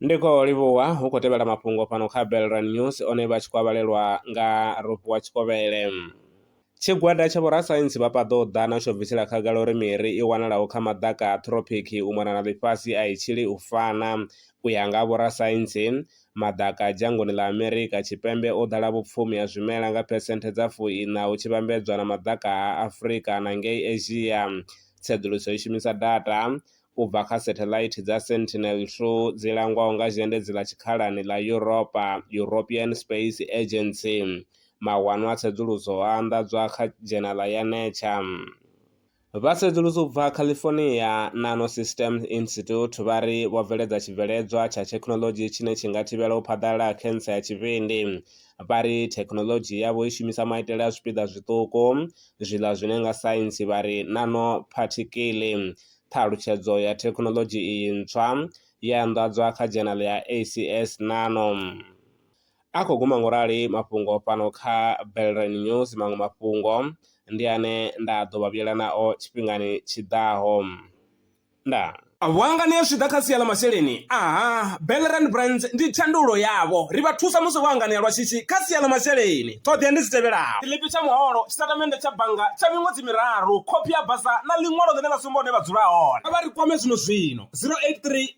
ndiko livhuwa hu khou tevhela mafhungo fhano kha belran news one vha tshi kwavhalelwa nga ropiwa tshikovhele Tshigwada tsha vhorasaintsi vha paḓo ḓa na tsho bvisela khagala uri miri i wanalaho kha maḓaka a throphiki u mona na ḽifhasi a i tshili u fana. U ya nga vhorasaintsi, Maḓaka a dzhangoni ḽa Amerika Tshipembe o ḓala vhupfumi ha zwimela nga phesenthe dza fu iṋa hu tshi vhambedzwa na maḓaka a Afrika na ngei Asia. Tsedzuluso i shumisa data u bva kha setheḽaithi dza Sentinel-2 dzi langwaho nga Zhendedzi ḽa Tshikhalani ḽa Yuropa, European Space Agency. Mawanwa a tsedzuluso o anḓadzwa kha dzhenala ya Nature. Vha sedzulusa u bva California Nanosystems Institute vha ri vho bveledza tshibveledzwa tsha thekhinolodzhi tshine tshi nga thivhela u phaḓalala ha khentsa ya tshivhindi. Vha ri thekhinolodzhi yavho i shumisa maitele a zwipiḓa zwiṱuku, zwiḽa zwine nga saintsi vha ri nanophathikiḽi. Ṱhalutshedzo ya thekhinolodzhi iyi ntswa yo anḓadzwa kha dzhenale ya ACS Nano. A khou guma ngorali mafhungo fhano kha Belrine News, maṅwe mafhungo ndi ane nda ḓo vha vhuyela nao tshifhingani tshi ḓaho. Ndaa. Vhuangani zwi tshi ḓa kha sia ḽa masheleni, aha, Belrine Brands ndi thandululo yavho. Ri vha thusa musi vho anganea lwa shishi kha sia ḽa masheleni. Ṱhoḓea ndi dzi tevhelaho. Tshiḽipi tsha muholo, tshitatamennde tsha bannga tsha miṅwedzi miraru, khophi ya basa na ḽiṅwalo ḽine ḽa sumba hune vha dzula hone. Kha vha ri kwame zwino-zwino, 083